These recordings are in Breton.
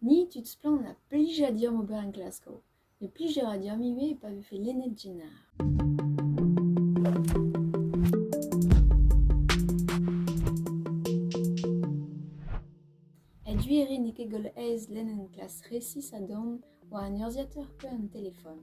Ni tud splann a blija deomp ober en Glasgow, met plij a ra deomp ivez pa vefe lennet Jenner. A-du e rin n'eo ket goll aes lenn un klas resis a-dorn war un urzhiateur pe un telefon.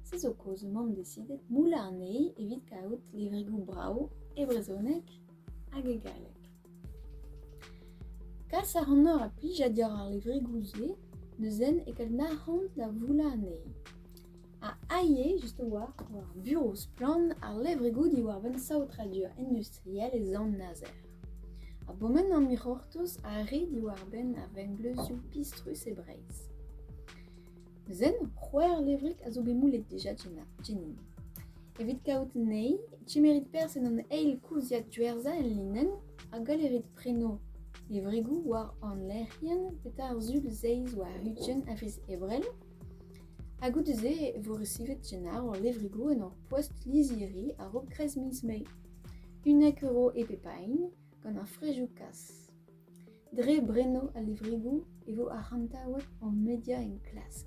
Se zo kaoz emaomp decidet moullañ anezhi evit kaout levrigoù brav e brezhoneg hag e galleg. Kas a ranoc'h a plij diàr ar levregoù-se n'eus henn eget nac'hañ da voulañ anezhi. Ha ivez just a-walc'h war burev splann ar levregoù diwar-benn saotradur industriel e Sant-Nazer. Ha bourmen an hiroc'htoz a re diwar-benn ar vengleuzioù pistrus e Breizh. Zen c'hwec'h levrig a zo bet moulet dija Jenin. Evit kaout anezhi, kemerit perzh en hon eil koulziad diwerzañ el linenn hag galerit preno levrigoù war hon lec'hienn petra ar sul zeiz war huchenn a viz Ebrel. Ha goude-se e vo resivet Jenar hor levrigoù en hor poest lizhiri a-raok kreiz miz Mae. Unnek euro e pep a hini, gant ar frejoù kas. Dre brennoù al levrigoù e vo arc'hantaouet hor media enklask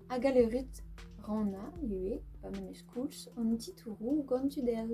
ha galerit rannañ ivez pa memes koulz an titouroù gant tud all.